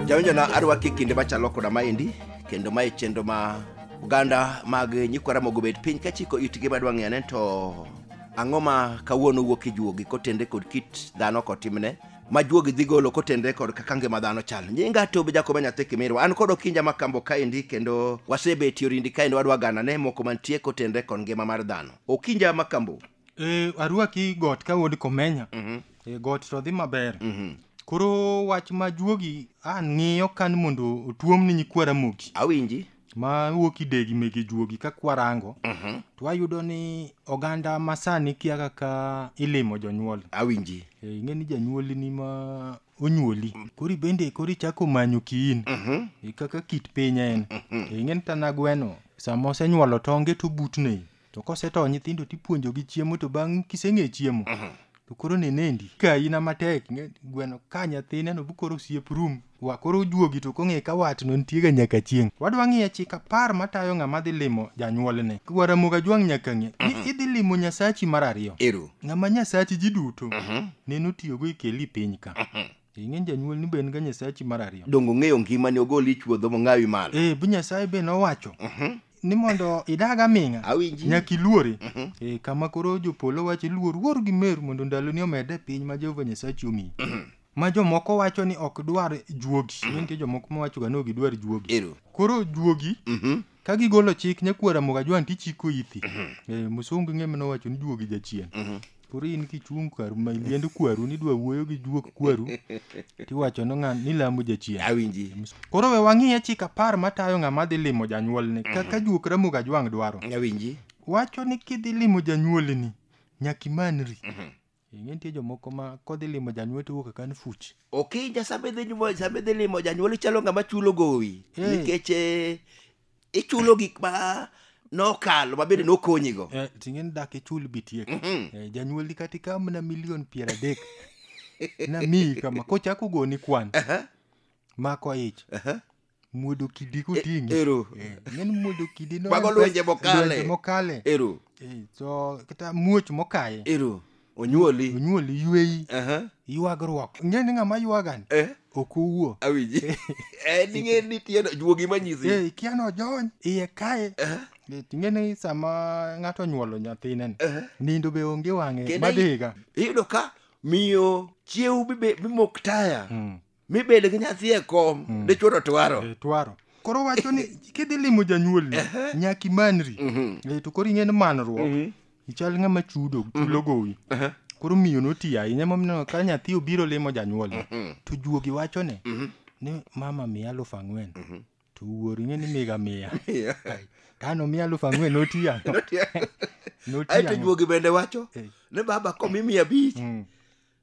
jawinjona arwaki e kinde machalo koda maendi kendo mae chenro ma oganda mag nyikwa ramogo obet piny kachiko itgi madwa ng'eyo ne to ang'o ma kawuono wuok e juogi kotende kod kit dhano kotimne ma juogi dhi golo kotenre kod kaka ngima dhano chal nyinga tobe jakoba nyathi kimirwa an kod okinja ma kambo kaendi kendo wasebetie orindi kaendi wadwa gana ne moko mantie kotenre kod ngima mar dhano okinja ma kambo e, arwaki got ka wuod komenya mm-hmm. e, got to dhi maber mm-hmm. koro wach ma juogi an ng'iyo kan mondo otuomni nyikwara moki awinji ma wuok idegi mege juogi ka kwarango Mhm. to wayudo ni oganda masani kia kaka ilimo jonyuol awinji Eh, ing'e ni janyuolni ma onyuoli kori bende kori chako manyo kiin Mhm. Eh, kaka kit piny en Eh, ing'e ni tana gweno sama osenyuolo tonge to butne to kosetho nyithindo tipuonjogi chiemo to bang' kiseng'e chiemo to koro nenendi ka ina matek ing'e ni gweno ka nyathine no bukoro osiep rum wa koro ojuogi to kong'e ka watno nitiega nyaka chieng' wadwa ng'iyo chik apar matayo ng'ama dhi limo janyuolne wa ramogi ajwang' nyaka ng'e ni idhi limo nyasachi mar ariyo Ero. ng'ama nyasachi ji duto nene otiyogo e keli piny ka ing'eny janyuol ni be en ga nyasachi mar ariyo donge ong'eyo ngimani ogol ich wuodho mong'awi malo eh bi nyasaye be nowacho ni mondo idag aming'a Awinji. nyaka iluore eh, kama koro jopolo wacho iluor wuor gi meru mondo ndaloni omed e piny ma jehova nyasachi omiyi ma jomoko wacho ni ok dwar juogi Ne nitie jomoko mawachoga ni ok gidwar juogi Ero. koro juogi Mhm. ka gigolo chik nyakwara moga jwan tichiko ithi Eh, musungu ng'e manowacho ni juogi jachien koro in kichung' kwaru ma iliend kwaru nidwa wuoyo gi juok kwaru tiwacho no ng'an nilamo jachien awinji koro we wang'iye chik apar matayo ng'ama dhi limo janyuolne kaka juok ramogi ajwang' dwaro awinji wacho ni kidhi limo janyuolni nyaka imanri ing'e nitie jomoko ma kodhi limo janyuol to wuok kan fuch ok ija sama idhi nyuol- sama idhi limo janyuol ichalo ng'ama chulo gowi Eh. nikech eh, ichulo gik ma nokalo mabende nokonyigo Eh, ting'eni dak ichul bitiek Mhm. Eh, janyuolni kata ikaw mana milion piero adek namiyi kama kochak ogoni kwan Aha, mako ich aha. muodo kidi koting'i ero. Eh, ng'eni muodo kidi no Mago en pes- lwenje mokale. lwenje mokale ero Eh, so kata muoch mokaye ero onyuoli onyuoli yweyi Aha. ywagruok ing'e ni ng'ama ywagani Eh, ok owuo awinji Eh, ning'e ni tieno juogi manyisi Eh, ikia ni ojony iye kae Eh, Eh, ing'e ni sama ng'ato onyuolo nyathine ni, eh. nindo be onge wang'e Kendo madhiga iyudo ka miyo chiew bibe- bimok taya Mm. mibed gi nyathi e kom mm. dichwo to twaro eh, twaro koro wacho ni kidhi limo janyuolni nyaka imanri mhm. eh, to koro ing'en manruok mhm. ichal ng'ama chudo mhm. chulo gowi koro miyo noti ahinya momiyo ka nyathi obiro limo janyuol to juogi wacho ne ni mama miya alufu ang'wen to wuoro ing'e ni miga miya tano miya alufu ang'wen noti ya noti aeto juogi bende wacho eh. ni baba komi miya abich mm.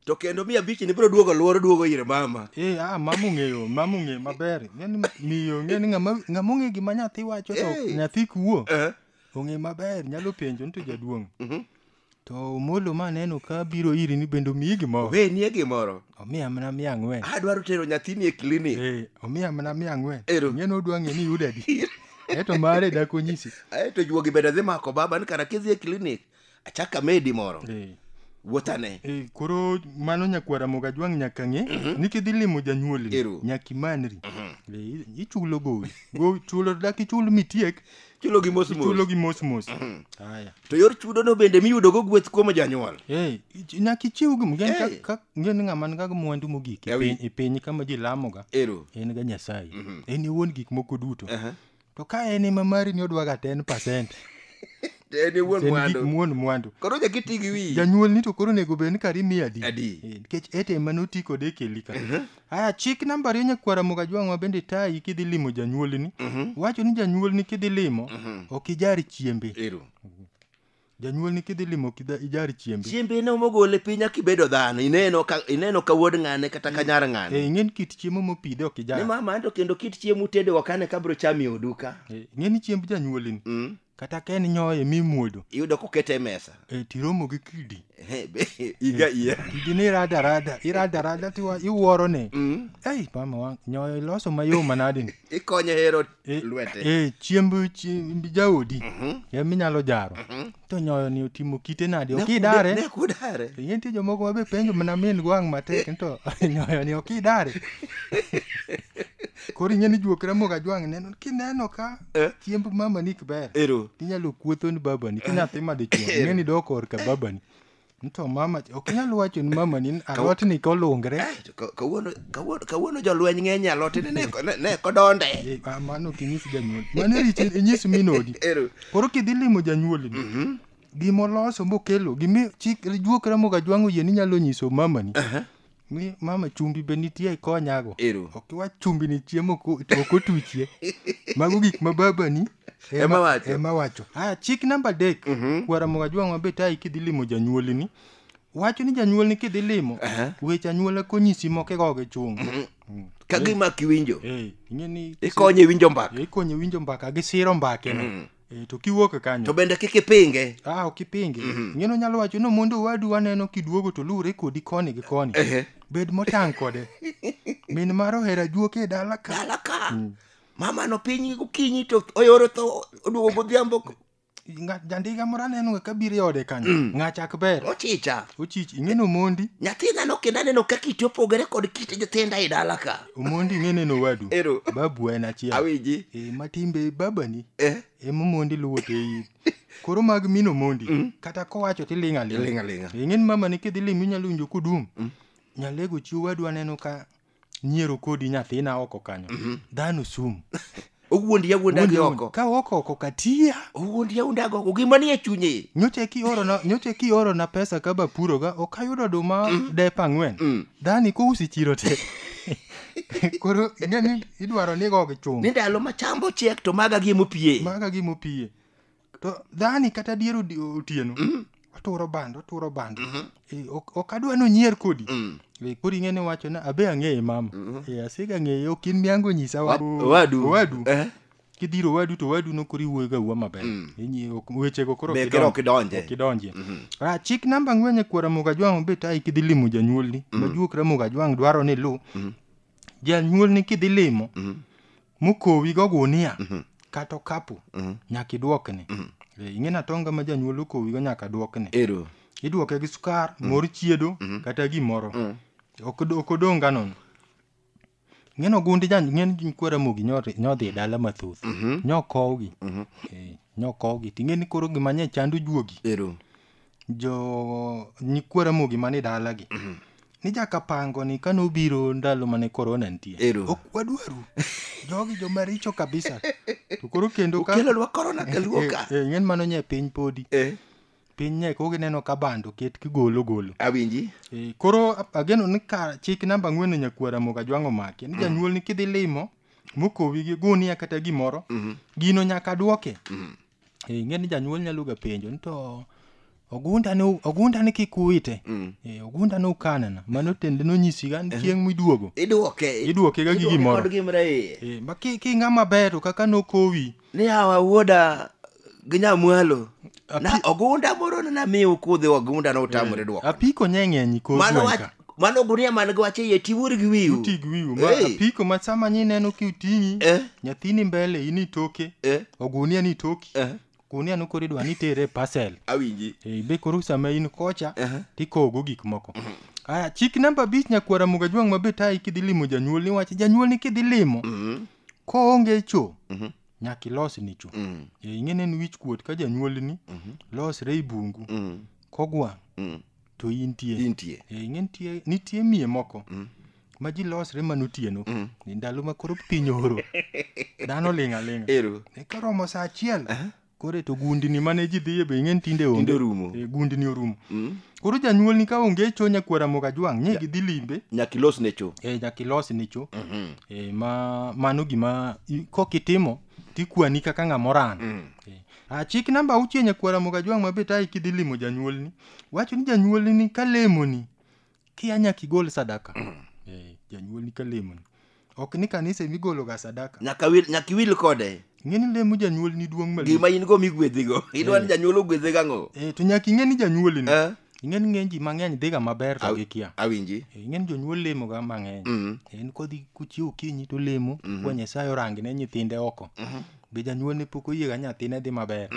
to kendo mia abich ni biro duogo luoro duogo ir mama eh ah mamu ng'eyo mamu ng'e maber ng'eni miyo ng'eni ng'ama ng'ama ong'e gima nyathi wacho to Eh. nyathi kuo Eh, ong'e maber nyalo penjo nito jaduong' mhm. to omolo ma neno ka biro iri ni bende omiyi gimoro we nie gimoro omiya mana mia ang'wen adwaro tero nyathini e klinik Eh, omiya mana mia ang'wen Ero. ng'eni odwa ng'e ni yudo adi eto mare dakonyisi aeto juogi bende dhi mako baba ni kara kidhi e klinik achaka medi moro Eh. wuothane Eh, koro mano nyakwara moga jwang' nyaka ng'e ni kidhi limo janyuolni Ero. nyaka imanri Eh, ichulo gowi gowi chulo dak ichul mitiek chulo gi mos ichulo mos gi mos mos haya to yor chudono bende miyudogo gweth kuom janyuol Eh, ich- nyaka ichiw gi ngen ka- Eh. ka- ngen ng'ama ni kaga mwandu mogik e Yawi. piny- e piny kama ji lamoga ero en ga nyasaye en e wuon gik moko duto Aha. To ka en ema mari ni odwaga 10%. To en e wuon En mwandu. gi- wuon mwandu. Koro nyaka iti gi wiyi. Janyuol ni to koro onego bed ni kari miye adi. Adi. Eh, Nikech ete ema noti kode e keli ka. Aya chik namba ariyo nyakwara Mugajwang' ma bende tayi kidhi limo janyuolni. Wacho ni janyuolni kidhi limo ok ijar chiembe. Ero. Janyuolni kidhi limo kidha ijar chiembe. Chiembe ne mogole piny nyaka ibedo dhano. Ineno ka ineno ka wuod ng'ane kata ka nyar ng'ane. Eh, ing'eni kit chiemo mopidhe ok ijar. Ni mama anto kendo kit chiemo utedo ok ane kabro chami oduka. Eh, ing'eni chiemb janyuolini. Mm. Kata ka en nyoye mi muodo. Iyudo kokete e mesa. Eh, tiromo gi kidi. Eh, be, iga iya. Kidi ni rada rada, irada rada tiwa iwuoro ni. Mm. Ei, mama wang, nyoyo iloso mayom manadi ni. Ikonye hero e- lwete. e chiemb chiemb jaodi e minyalo jaro to nyoyo ni otimo kite nadi ok idare Ne kudare. to nitie jomoko mabe penjo mana min gwang' matek to nyoyo ni ok idare koro ing'e ni juok ramogo ajwang' neno kineno ka Eh. chiemb mamani ok ber Ero. inyalo kuotho ni babani ki nyathi madichuo ing'e ni dok korka babani To mama ok nyal wacho ni mama ni alot ni kolungre. Eh, kawuono kawuono kawuono jolweny ng'eny alot ni ne ne kodonde. Eh, ah, mano kinyis janyuol. Mano richi inyis minodi. Koro kidhi limo janyuol ni. Mhm. Gimoloso mokelo gimi chik juokra moga jwang'o yie ni nyalo nyiso mama ni. Mi mama chumbi be nitie ikonyago. Ero. Ok iwach chumbi ni chiemo ok o- ok otuchie. Mago gik ma babani Ema wacho. Ema wacho. Aya chik namba adek. Kwara moga jwang' mabe tayi kidhi limo janyuolini. Wacho ni janyuolni kidhi limo. Aha. Weche anyuola konyisi moko igoge chung'. ka gima kiwinjo Eh, ing'e ni ikonye winjo mbaka ikonye winjo mbaka gi siro mbakeno Eh, to kiwuok to kanyo bende kik ipinge ah ok ipinge ing'eno nyalo wacho ni mondo owadu waneno kiduogo to luwre kodi koni gi koni Ehe. bed motang' kode min mar ohera juoke e dala ka dala ka mama no piny gokinyi to oyoro to oduogo godhiambo Nga- jandiga moro aneno ka biro e ode kanyo ng'achak ber ochicha ochich ing'eno mondi nyathina no kendo aneno ka kite opogore kod kit nyithinda e dala ka Omondi ing'e neno owadu. Ero. Babu en achiel. Awinji. Eh, matimbe babani Eh. ema omondi luwo te in. Koro mag mino mondi kata kowacho tiling' aling'. Iling' aling'a. Eh, Ing'eni mama ni kidhi limi inyalo winjo kodum. Nyalego chi owadu aneno ka nyiero kodi nyathina oko kanyo. Dhano sum. owuondi yawuonda gi oko ka oko oko katia owuondi yawuonda gi oko gima nie chunye nyocha kiorona nyocha kiorona pesa ka bapuroga ok ayudo oduma mm. dep ang'wen mm. dani kousi chiro te koro ing'e ni idwaro ni gogi chung ni ndalo ma chambo chiek to maga gi mopiye maga gi mopiye to dhani kata dier odi- otieno Mm. waturo bando waturo bando Mhm. Eh, ok ok adwa nonyier kodi Mm. Eh, koro ing'e ni wacho na abe ang'eye mama Mhm. Eh, asega ng'eye ok in miango nyisa Wa- wadu Owadu. owadu Eh. kidhiro owadu to owadu nokoro iwuoyoga uwa maber Mm. Inyi- ok- wechego koro Be kero ok idonje. ok idonje Mhm. Ah, chik namba ang'wen e kwara moga jwang' obet ai kidhi limo janyuolni majuok ramoga jwang' dwaro ni lu Mhm. janyuolni kidhi limo Mhm. mokowi go gunia Mhm. kata okapu Mhm. nyaka idwokne Eh, ing'e na tonga ma janyuol okowi go nyaka dwokne ero idwoke gi sukar mor chiedo kata gimoro Mm. ok od- ok odong' ga nono ng'en ogundi jan ng'en kwara mogi nyori- nyodhi e dala mathoth nyokowgi Eh, nyokowgi ting'e ni koro gima nye chandu juogi ero jo nyikwa Ramogi mani dalagi ni jakapango ni kane obiro ndalo mane korona nitie Ero. ok wadwaru jogi joma richo kabisa to koro kendo ka Ukelonwa korona kaluo ka. Eh, eh, ing'en mano nye piny podi Eh, piny nye kok ineno ka bando ket kigolo golo awinji. Eh, koro ap- ageno ni ka chik namba ang'wen ni nyakwa Ramogi Ajwang'o make ni janyuol ni kidhi limo mokowi gi gunia kata gimoro gino nyaka dwoke Eh, ing'e ni janyuol nyalo ga penjo ni to ogunda ne ogunda ne kik uwite mm. eh, ogunda ne ukanana mano tende nonyisi ga ni eh. chieng' miduogo iduoke iduoke ga gi gimoro kod gimra iye eh, ma ki ki ng'ama ber to kaka nokowi ni awa wuoda gi nyamwalo na ogunda moro ne namiyo kudhi ogunda ne utamore eh, duoko apiko nyeng'enyi kodhi mano mano gunia man gi wach iye tiwuor gi wiu uti gi wiu ma Hey. apiko ma sama nyi neno ki uting'i Eh. nyathini mbele ini toke Eh. ogunia ni toki Eh. gunia no koro idwa ni tere e parcel awinji Eh, be koro sama in kocha Eh. tikogo gik moko aya chik namba abich nyakwara muga jwang' ma be tayi kidhi limo janyuol ni wach janyuol ni kidhi limo Mhm. koonge cho Mhm. nyaka ilos ni cho Mm. Eh, ing'e ni en wich kuot ka janyuolni losre i bungu Mm. kogwang' Mm. to intie Intie. Eh, ing'e nitie nitie miye moko ma ji losre mana otieno Ni ndalo ma koro piny oro dhano ling' aling'a Ero. Eh, koromo sa achiel koro to gundni mane ji dhiye be ing'e ni tinde onge Tinde orumo. Eh, gundni orumo koro janyuolni ka onge cho nyakwara moga jwang' nye gidhi limbe Nyaka ilos ne cho. eh, nyaka ilos ni cho eh, ma mano gima i- kok itimo tikwani kaka ng'ama oran eh. ah, chik namba auchiel nyakwara moga jwang' ma betayi kidhi limo janyuolni wacho ni janyuolni ni ka lemoni kia nyaka igol sadaka Eh, janyuolni ka lemoni ok ni kanisa ema igologa sadaka nyaka wil- nyaka iwil kode ng'e ni lemo janyuolni duong' malich gima in go migwedhigo idwa ni janyuol ogwedhe gang'o Eh, to nyaka ing'e ni janyuolni Eh? ing'e ni ng'eny ji mang'eny dhiga maber to Aw- gikia awinji Eh, ing'e ni jonyuol lemoga mang'eny Mm. en kodhi kuchiew okinyi to lemo kwa nyasaye orangne nyithinde oko be janyuol ne pok oyiega nyathine dhi maber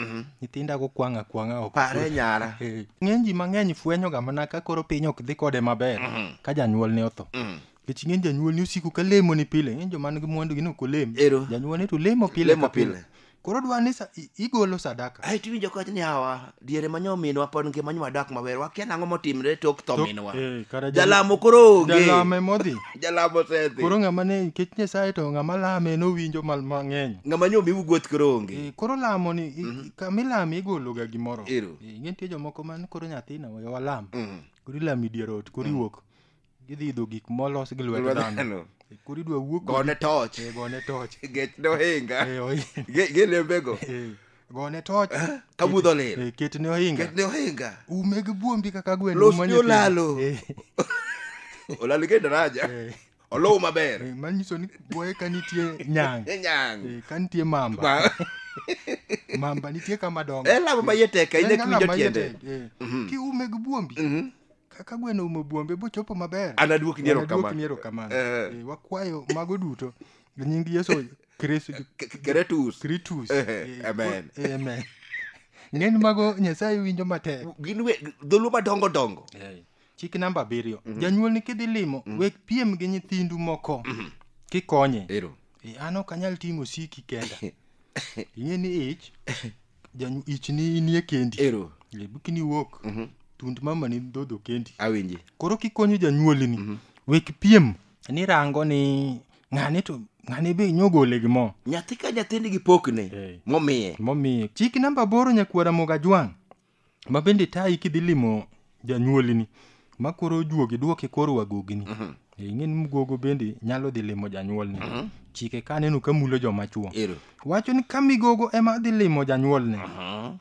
nyithinda go kwang' akwang'a ok pare nyara Eh, ng'eny ji mang'eny fwenyoga mana ka koro piny ok dhi kode maber ka janyuol ne otho Mm. nikech ng'eny janyuol ni osiko ka lemo ni pile ng'eny joma nigi mwandu gin ok olem Ero. janyuol ni to lemo pile Lemo ka pile. pile koro dwa ni sa- i- igolo sadaka ae tiwinjo koch ni hawa diere ma nyominwa pod ngima nyo wadak maber wakia nang'o motimre tok tho minwa Eh, kara jal- jalamo koro onge jalame modhi jalamo osedhi koro ng'ama ne nikech nyasaye to ng'ama lame nowinjo mal mang'eny ng'ama nyo miwu gweth koro onge Eh, koro lamo ni i- kamilame igologa gimoro Ero. Eh, ing'e nitie jomoko man koro nyathina we walam Mm. koro ilami dier ot koro iwuok gidhi idho gik molos gi lwet Lwet dhano dhano. Eh, koro idwa wuo kodi- gone toch Eh, gone toch gech nohinga Eh, ohi- Ge- gelembego eh, gone toch ka budho lil Eh, ketne ohinga ketne ohinga ume gi buombi kaka gweno Los umo ni nyithindo. olalo. Eh, olal ge daraja eh, olow maber eh, manyiso ni boye ka nitie nyang nyang eh, ka nitie mamba Ma- mamba nitie kama dongo e lamo ma iye tek ahinya En kiwinjo alama tiende tek, eh. kiume gi buombi Mhm. kaka gweno umo buombe bochopo maber Anaduok ni Anaduok erokamano. ni erokamano Eh. Eh, wakwayo mago duto e nying yesu kristo K- k- Keretus. kritus Eh, Eh, amen. ko- eh, amen ng'eny mago nyasaye winjo matek Gin we dholuo madongo dongo. chik namba abiriyo janyuol ni kidhi limo wek piem gi nyithindu moko kikonye Ero. Eh, an ok anyal ting'o siki kenda ing'e ni ich Janyu ich ni inie kendi. Ero. Eh, Bikini wuok. Mhm. Tund mama ni dhodho kendi. Awinji. Koro kikonyo janyuoli ni. Mhm. Wek piem ni rango ni ng'ane to ng'ane be nyogole gi mo. Nyathi ka nyathi nigi pokne. Eh. Momiye. Momiye. Chik namba boro nyakwara moga jwang'. ma bende tayi kidhi limo janyuolini ma koro ojuogi duoke koro wagogini Eh, ing'e ni mgogo bende nyalo dhi limo janyuolni chike ka aneno ka mulo joma chuo Ero. wacho ni ka migogo ema dhi limo janyuolne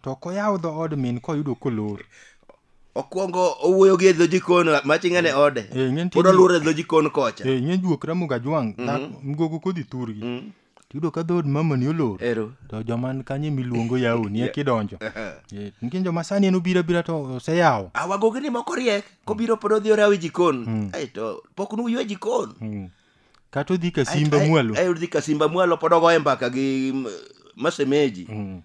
to ok oyaw dho od min koyudo kolor okwongo owuoyo gi e dho jikon maching'ane e ode Eh, ing'e nitie pod ni- oluoro e dho jikon kocha Eh, ing'e juok ramoga jwang' dhako- mgogo kodhi thurgi Tiyudo ka dhood mamani olor. Ero. To joma ni kanyo miluongo yawo ni ekidonjo. Eh, Nitie joma sani en obira bira to oseyawo. awagogi ni moko riek kobiro pod odhi orawo e jikon Ai, to pok nuywe jikon Mm. Kata odhi ka simba mwalo. ayudhi ka simba mwalo pod ogoye mbaka gi mm, masemeji Mm.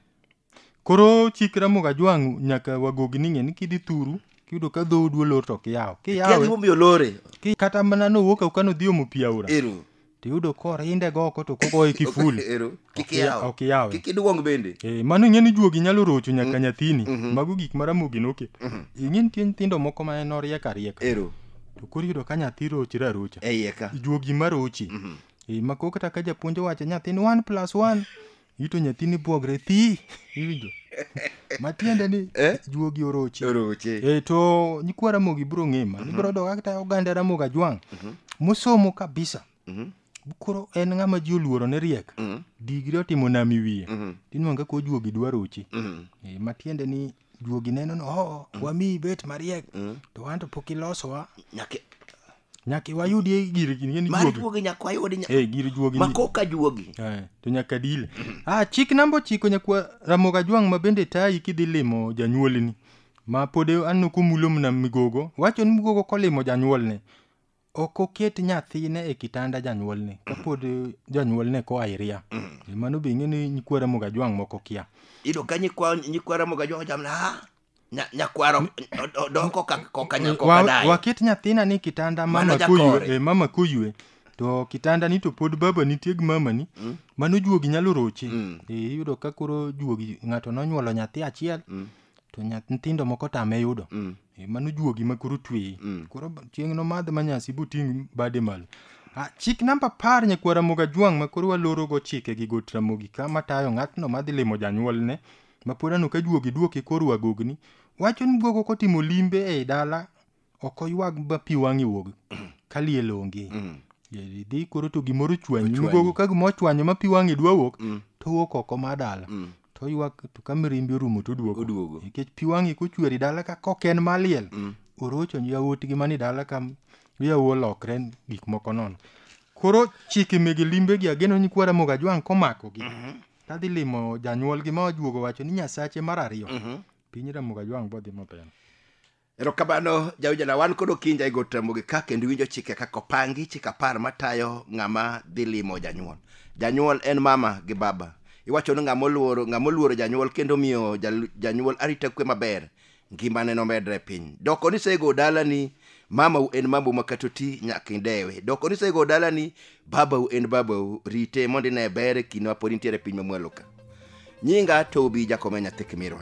Koro chik Ramogi Ajwang' nyaka wagogi ni ng'e ni kidhi thuru kiyudo ka dhoodu olor to ok iyaw. Kia Kiyawe gimomiyo olore. ki- kata mana nowuok au kano dhi omo pi aora Ero. to iyudo korinde go oko to kogoye kiful. Ero. Kik Ok iya- iyaw. ok iyawe. Kik iduong bende. Eh, mano ing'e ni juogi nyalo rocho nyaka nyathini. Mago gik ma Ramogi noketo. Ing'e nitie nyithindo moko ma en oriek ariek. Ero. To koro iyudo ka nyathi rochre arocha. Eiye ka. Juogi ma rochi. Eh, ma koro kata ka japuonj owacho nyathini one plus one Ito nyathini buogre thi. Iwinjo? Matiende ni Eh? juogi orochi. Oroche. E to nyikwa Ramogi biro ng'ima. Ibiro doga kata oganda Ramogi Ajwang'. Mosomo kabisa. Mhm. Koro en ng'ama ji oluoro ne riek. Mhm. Digri otimo nami wiye. Mhm. Tinwanga ko juogi dwarochi. Mhm. E, matiende ni juogi neno ni oh, wamiyi bet mariek to wanto pok ilosowa nyaka nyaka wayudie gir gini ni mar juogi juogi nyaka wayudi nya- eh gir juogi ma ni- koka juogi Eh, to nyaka dile ah chik namba ochiko nyakwa ramoga jwang' ma bende tayi kidhi limo janyuolni ma pod anno kumulo mna migogo wacho ni migogo kolimo janyuolne ok oket nyathine e kitanda janyuolne kapod janyuolne koa iria E mano be ing'e ni nyikwa ramoga jwang' moko kia Iyudo ka nyikwa nyikwa Ramoga jwang' jam na ha. Nya- Nyakwaro od- odong' koka koka nya- koka Wa- dayo. waket nyathina ni kitanda Mano mama jakore. koywe e, mama koywe to kitanda ni to pod baba nitie gi mama ni mano juogi nyalo roche e, iyudo ka koro juogi ng'ato nonyuolo nyathi achiel to nyath nyithindo moko tame yudo Mm. Eh, mano juogi ma koro tweyi Mm. koro ba- chieng' nomadh ma nyasi boting' bade malo Ah, chik namba apar nyakwara moga jwang' ma koro walorogo chike gi got ramogi ka matayo ng'atno madhi limo janyuolne ma pod ano ka juogi duoke koro agogni wacho ni guogo kotimo limbe ei dala ok oywag ma pi wang'e wuog ka liel onge Yeri dhi koro to gimoro ochwanyi Ochwanyi. migogo ka gima ochwanyo ma pi wang'e dwa wuok to wuok oko mar dala to oywak to ka mirimbi orumo to oduogo Oduogo. nikech pi wang'e kochweri dala ka kok en maliel orocho yawuotgi mani dala ka yawu olokre gik moko nono koro chike mege limbegi ageno ni kwara moga jwang' komakogi tadhi limo janyuolgi ma ojuogo wacho ni nyasache mar ariyo piny ramoga jwang' bodhi maber erokamano jaujana wan kod okinja e gotramogi ka kendo iwinjo chike kaka opangi chik apar matayo ng'ama dhi limo janyuol janyuol en mama gi baba iwacho ni ng'ama oluoro ng'ama oluoro janyuol kendo miyo jal- janyuol arita kwe maber ngimane nomedre e piny doko ni sego dalani mamau en mamau makatoti nyaka idewe doko ni sego dalani babau en babau rite mondo ine bere kinde mapod intiere e piny mamwaloka nyinga tobi jakome nyathi kimirwa